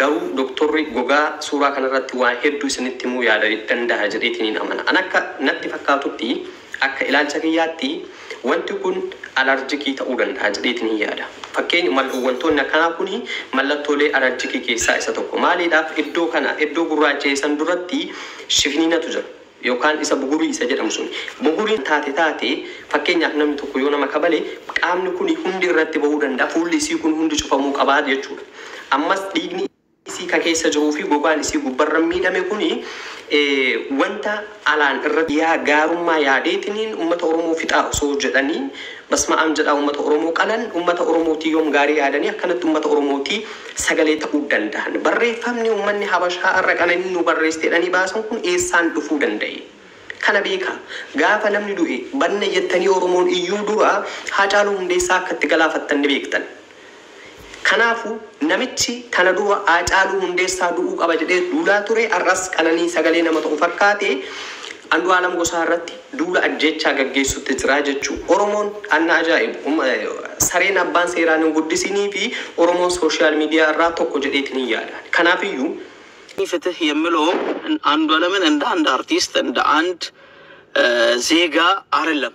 Garuu doktorri gogaa suuraa kanarratti waa hedduu isinitti himuu yaada dandaha jedheetiniin amana. An akka natti fakkaatutti, akka ilaalcha kiyyaatti, wanti kun alarjikii ta'uu dandaha jedheetiniin yaada. Fakkeeny mal wantoonni akkanaa kun mallattoolee alarjikii keessaa isa tokko. Maaliidhaaf iddoo kana, iddoo gurraacha'e san duratti shifiniinatu jira. yookaan isa bugurii isa jedhamu suni. Buguriin taate taatee fakkeenyaaf namni tokko yoo nama kabale qaamni kuni hundi irratti bahuu danda'a, fuulli isii kun hundi cufamuu qaba jechuudha. Ammas dhiigni isii ka keessa jiruu fi gogaan isii gubbarra miidhame kuni wanta alaan irratti. Yaa gaarummaa yaadeetiniin ummata Oromoo fixaa osoo jedhanii Basma'aam jedhaa ummata oromoo qalan ummata oromootii yoom gaarii yaadanii akkanatti ummata oromootii sagalee ta'uu dandahan? Barreeffamni ummanni habashaa ar'a qananiin nuu barreessite jedhanii baasan kun eessaan dhufuu danda'e? Kana beekaa gaafa namni du'e banna jettanii oromoon iyyuu dura haacaaluu hundeessaa akka itti galaafattan ni beektan. Kanaafu namichi kana dura Haacaaluu Hundeessaa du'uu qaba jedhee duulaa ture har'as qananii sagalee nama ta'u fakkaatee Andu'aalam Gosaa irratti duula ajjeechaa gaggeessutti jira jechuu Oromoon an na ajaa'ibu sareen abbaan seeraan hin guddisiinii fi Oromoon social media irraa tokko jedheetin hin yaada ani. Kanaafiyyuu. Ani fitih yemmilow Andu'alamin inda and artist inda and zeega arilem.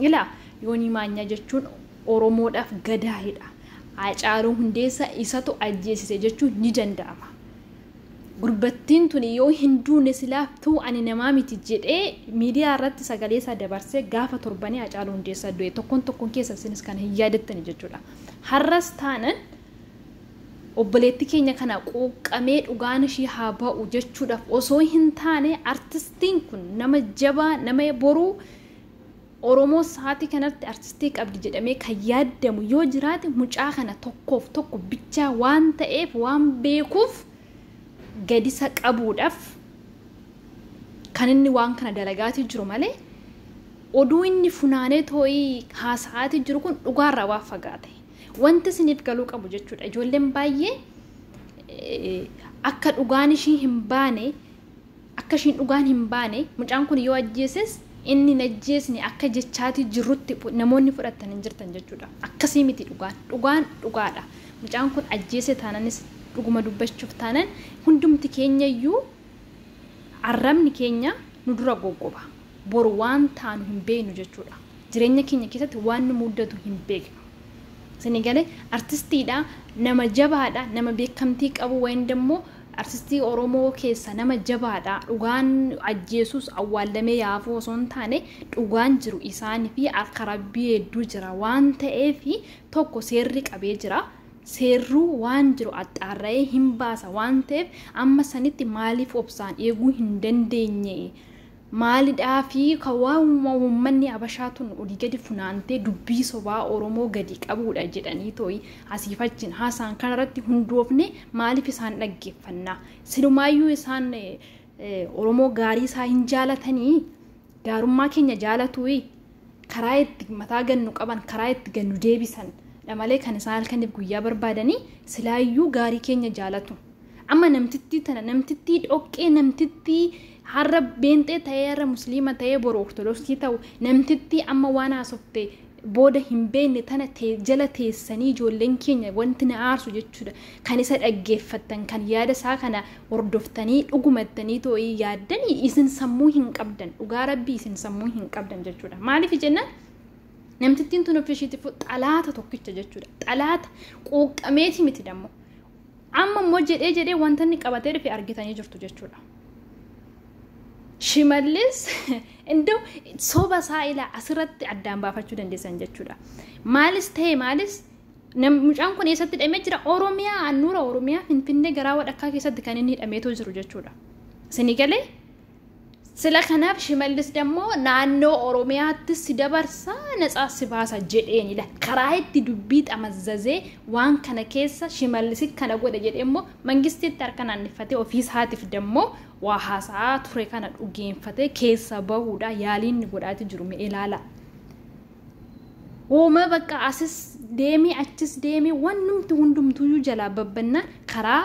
Ilaa Yoonii Maanyaa jechuun Oromoodhaaf Gadaayidha. Haacaaluu Hundeessaa isatu ajjeesise jechuun ni danda'ama. Gurbattiin tuni yoo hin duune silaa tuu ani namaa miti jedhee miidiyaa irratti sagalee isaa dabarsee gaafa torbanii Haacaaluu Hundeessaa du'e tokkoon tokkoon keessa isinis kana hin yaadattani jechuudha. Har'as taanan obboleetti keenya kana quuqqamee dhugaan ishii haa ba'u jechuudhaaf osoo hin taane artistiin kun nama jabaa nama boruu Oromoo sa'aatii kanatti artistii qabdi jedhamee kan yaaddamu yoo jiraate mucaa kana tokkoof tokko bichaa waan ta'eef waan beekuuf gadisa qabuudhaf kan inni waan kana dalagaatii jiru malee oduu inni funaanee too'ii haasa'aatii jiru kun dhugaarraa waan fagaate wanti isiniif galuu qabu jechuudha ijoolleen baay'ee akka dhugaan ishii hin baane Akka ishiin dhugaan hin baane, mucaan kun yoo ajjeeses inni hin ajjeesne akka jechaatii jirrutti namoonni fudhattan hin jirtan jechuudha. Akkasii miti dhugaan. Dhugaan dhugaadha. Mucaan kun ajjeese taananis dhuguma dubbachuuf taanan hundumti keenya iyyuu arrabni keenya nu dura goggoba. Boru waan taanu hin beeknu jechuudha. Jireenya keenya keessatti waan nu muddatu hin beeknu. Isinii galee? Artistiidha, nama jabaadha, nama beekamtii qabu, wayindammoo Arsistii oromoo keessa nama jabaadha dhugaan ajjeesuus awwaallamee yaa hafuu osoo hin taane dhugaan jiru isaan fi harka rabbii hedduu jira waan ta'eef tokko seerri qabee jira seerruu waan jiru axxaarra'ee hin baasa waan ta'eef amma sanitti maaliif obsaan eeguu hin dandeenye Maalidhaafi ka waanuma uummanni Habashaa tun olii gadi funaantee dubbii sobaa Oromoo gadi qabuudha jedhaniitooyi asiif achiin haasa'an kanarratti hundoofnee maaliif isaan dhaggeeffanna? Silumaayyuu isaan Oromoo gaarii isaa hin jaalatanii? Gaarummaa keenya jaalatuuyi? karaa itti mataa gannu qaban karaa itti gannu deebisan dha malee kan isaan halkaniif guyyaa barbaadanii silaayyuu gaarii keenya jaalatu. Amma namtittii tana namtittii dhoqqee namtittii har'a beenxee ta'ee har'a musliima ta'ee boru ortodoksii ta'u namtittii amma waan haasofte booda hin beekne tana tee- jala teessanii ijoolleen keenya wanti na aarsu jechuudha kan isa dhaggeeffattan kan yaada isaa kana hordoftanii dhuguma jettanii too'ii yaaddanii isin sammuu hin qabdan dhugaa rabbii isin sammuu hin qabdan jechuudha maaliif jennaan namtittiin tun ofishiitiif xalaata tokkicha jechuudha xalaata quuqqameeti miti dammo amma immoo jedhee jedhee wanta inni qabatee dhufe argitanii jirtu jechuudha. Shimallis iddoo soba isaa ilaa asirratti addaan baafachuu dandeessan jechuudha. Maalis ta'e maalis Nam- Mucaan kun eessatti hidhamee jira? Oromiyaa, handhuura Oromiyaa, Finfinnee garaa wadhakkaa keessatti kan inni hidhameetoo jiru jechuudha. Isinii galee? Sila kanaaf Shimallis dammoo naannoo Oromiyaatti si dabarsa natsaas si baasa jedheeni la karaa itti dubbii xamazzazee waan kana keessa Shimallisit kana godhe jedhee immoo mangistiitti harka naannifatee ofii isaatiif dammoo waa haasa'aa ture kana dhugeeffatee keessa bahuudha yaaliin inni godhaati jiru mee ilaala. Uuma bakka asis deemii achis deemii wannumti hundumtuuyyuu jalaa babbannaan karaa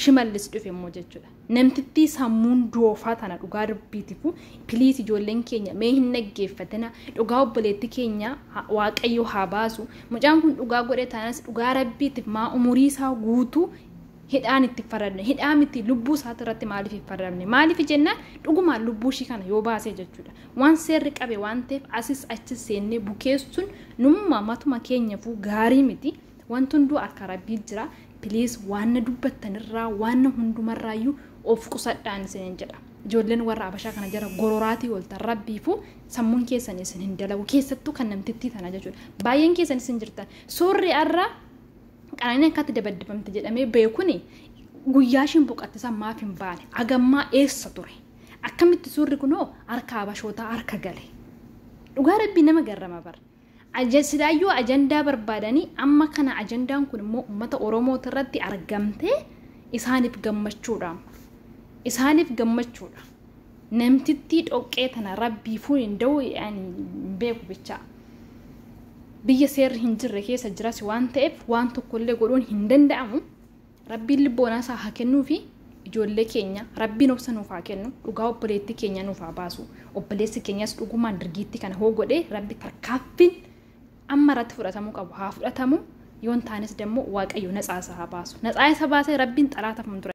shimallis dhufe immoo jechuudha. Namtittii sammuun doofaa tana dhugaa rabbiitifu piliis ijoolleen keenya mee hin dhaggeeffatina dhugaa obboleetti keenya waaqayyo haa baasu mucaan kun dhugaa godhe taanas dhugaa rabbiitiif maa umurii isaa guutuu hidhaan itti faradne hidhaa miti lubbuu isaati irratti maaliif hin faradne maaliif jennaan dhugumaan lubbuu ishii kana yoo baasee jechuudha. Waan seerri qabe waan ta'eef asis achis seennee bukeessuun numma matuma keenyafuu gaarii miti. Wanti hunduu harka Rabbii jira. Piliis waanna dubbattanirraa waanna hundumarraayyuu of qusadhaan isiniin jedha. Ijoolleen warra Habashaa kana jara gororaatii ooltan Rabbiifuu sammuun keessan isin hin dalagu. Keessattuu kan namtittii tana jechuudha. Baay'een keessan isin jirtan. Suurri har'a qananiin akkatti dabaddifamte jedhamee beekuni guyyaa ishiin boqatte san maaf hin baane? Agammaa eessa ture? Akkamitti suurri kunoo harka Habashootaa harka gale. Dhugaa rabbii nama garrama bar. Aja- Silaayyuu ajandaa barbaadanii amma kana ajandaan kun immoo uummata Oromooti irratti argamtee isaaniif gammachuudha. Isaaniif gammachuudha. Namtittii dhoqqee tana rabbiifuu hin da'u ani hin beeku bichaa. Biyya seerri hin jirre keessa jiras waan ta'eef waan tokkollee godhuun hin danda'amu. Rabbiin libboonaa isaa haa kennuufi ijoollee keenya rabbiin obsa nuuf haa kennu dhugaa obboleettii keenyaa nuuf haa baasu obboleessi keenyas dhugumaan dirgiittii kana hoo godhee rabbi tarkaanfiin amma irratti fudhatamuu qabu haa fudhatamu yoon taanis dammoo waaqayyo natsaa isa haa baasu natsaa isa baasee rabbiin xalaata fuuldura